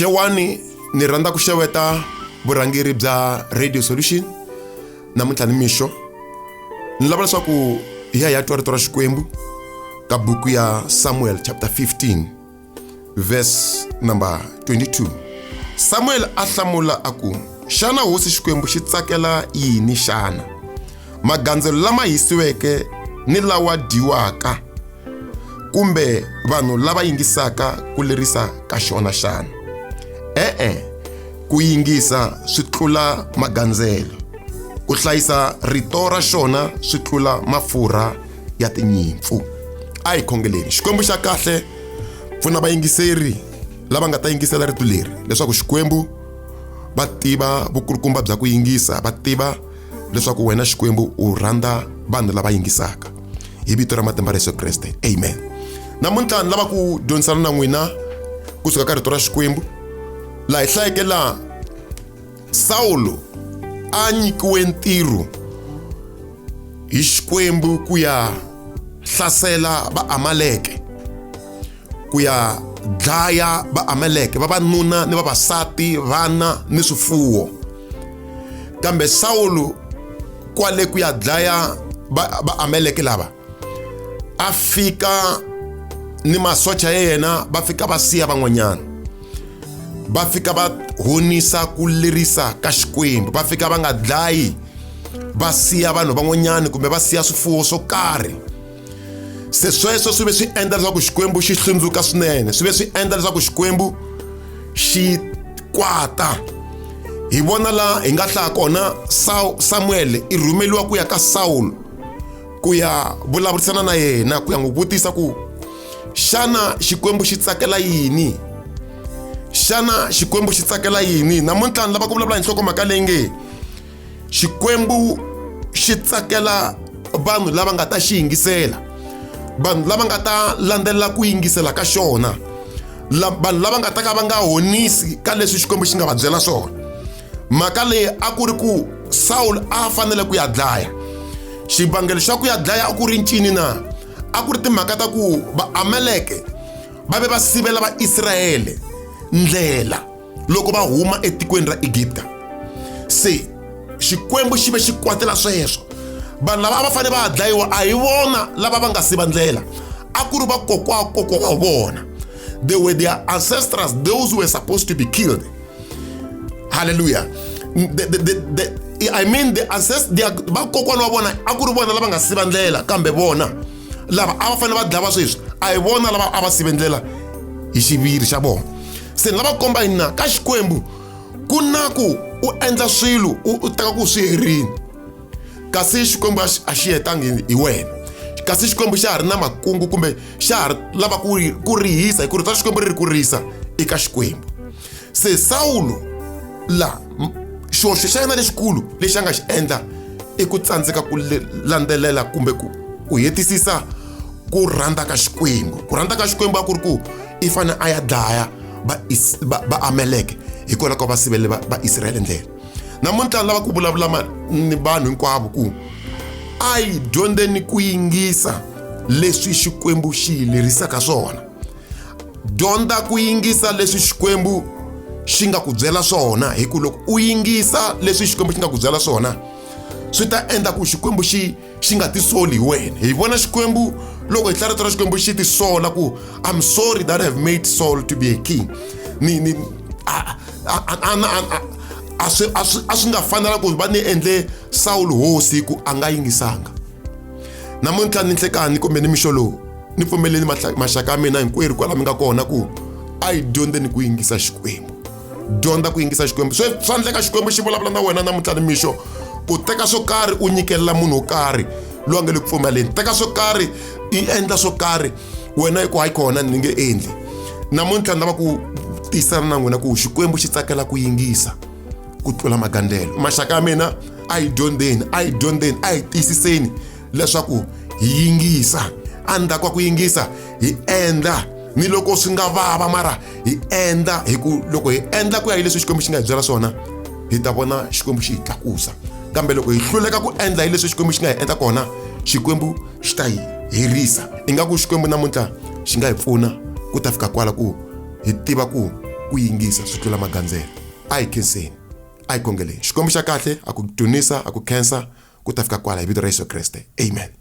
xewani ni rhandza ku xeweta vurhangeri bya radio solution namuntlha ni mixo ni lava leswaku hi ya hi ya twa rito ra xikwembu ka buku ya samuel chapter 15 verse number 22 samuel a hlamula a ku xana hosi xikwembu xi tsakela yini xana magandzelo lama hisiweke ni lawa dyiwaka kumbe vanhu lava yingisaka ku lerisa ka xona xana e-e ku yingisa swi tlula magandzelo ku hlayisa rito ra xona swi tlula mafurha ya tinyimpfu a hi khongeleni xikwembu xa kahle pfuna vayingiseri lava nga ta yingisela rito leri leswaku xikwembu va tiva vukulukumba bya ku yingisa va tiva leswaku wena xikwembu u rhandza vanhu lava yingisaka hi vito ra matimba ra yesu kreste amen namuntlha ni lava ku dyondzisana na n'wina kusuka ka rito ra xikwembu laha hi hlayeke laha sawulo a nyikiwe ntirho hi xikwembu ku ya hlasela vaamaleke ku ya dlaya vaameleke vavanuna ni vavasati vana ni swifuwo kambe sawulu kwale ku ya dlaya vaameleke lava a fika ni masocha ya yena va fika va siya van'wanyana va fika va honisa ku lerisa ka xikwembu va fika va nga dlayi va siya vanhu van'wanyana kumbe va siya swifuwo swo karhi se sweswo swi ve swi endla leswaku xikwembu xi hlundzuka swinene swi ve swi endla leswaku xikwembu xi kwata hi vona laha hi nga hlaya kona samuele i rhumeliwa ku ya ka sawulo ku ya vulavurisana na yena ku ya n'wi vutisa ku xana xikwembu xi tsakela yini xana xikwembu xi tsakela yini namuntlha ni lava ku vulavula hi nhlokomhaka leyi nge Xikwembu xi tsakela vanhu lava nga ta xi yingisela, vanhu lava nga ta landzelela ku yingisela ka xona, vanhu lava nga ta ka va nga honisi ka leswi Xikwembu xi nga va byela swona. Mhaka leyi a ku ri ku Sawulo a fanele ku ya dlaya. Xivangelo xa ku ya dlaya a ku ri ncini na? A ku ri timhaka ta ku Vaamaleke va ve va sivela Vaisrayele ndlela. loko va huma etikweni ra egipta se xikwembu xi ve xi kwatela sweswo vanhu lava a va fanele va dlayiwa a hi vona lava va nga si va ndlela a ku ri vakokwakokwa wa vona they were their ancestors those were supposed to be killed halleluya the, the, the, the, i mean the ancest vakokwana wa vona a ku ri vona lava nga si va ndlela kambe vona lava a va fanele va dlava sweswi a hi vona lava a va sivendlela hi xiviri xa vona se ni lava komba yini na ka xikwembu ku na ku u endla swilo u teka ku swi herini kasi xikwembu a xi hetangi hi wena kasi xikwembu xa ha ri na makungu kumbe xa ha ri lava ku rihisa hi ku ri ta xikwembu ri ri ku rihisa eka xikwembu se sawulo la xihoxo xa yena lexikulu lexi a nga xi endla i ku tsandzeka ku landzelela kumbe ku ku hetisisa ku rhandza ka xikwembu ku rhandza ka xikwembu a ku ri ku i fanele a ya dlaya vaameleke hikwalaho ka va sivele vaisraele ndlela namuntlha ni lava ku vulavula ni vanhu hinkwavo ku a yi dyondzeni ku yingisa leswi xikwembu xi yi lerisaka swona dyondza ku yingisa leswi xikwembu xi nga ku byela swona hi ku loko u yingisa leswi xikwembu xi nga ku byela swona swi ta endla ku xikwembu xi xi nga tisoli hi wena hi vona xikwembu loko hi hlarito ra xikwembu xi tisola ku i'm sorry that have made saul to be a king ni ni a swi nga fanela ku va ni endle sawulo hosi hi ku a nga yingisanga namuntlha ni nhlekani kumbe ni mixo lowu ni pfumeleni maxaka ya mina hinkwerhu kwala mi nga kona ku a yi dyondzeni ku yingisa xikwembu dyondza ku yingisa xikwembu swi swa endleka xikwembu xi vulavula na wena namuntlha ni mixo ku teka swo karhi u nyikelela munhu wo karhi loyi a nga le ku pfumaleni teka swo karhi i endla swo karhi wena i ku hayi kona ni nge endli namuntlha ni lava ku tiyisana na n'wina ku xikwembu xi tsakela ku yingisa ku tlula magandlelo maxaka ya mina a yi dyondzeni a yi dyondzeni a yi tiyisiseni leswaku hi yingisa a ni ta kwa ku yingisa hi endla ni loko swi nga vava mara hi endla hi ku loko hi endla ku ya hi leswi xikwembu xi nga hi byela swona hi ta vona xikwembu xi hi tlakusa kambe loko hi hluleka ku endla hi leswi xikwembu xi nga hi endla kona xikwembu xi ta hi herisa ingaku xikwembu namuntlha xi nga hi pfuna ku ta fika kwala ku hi tiva ku ku yingisa swi tlula magandzelo a hi khenseni a hi kongeleni xikwembu xa kahle a ku dunisa a ku khensa ku ta fika kwala hi vito ra yesu kreste amen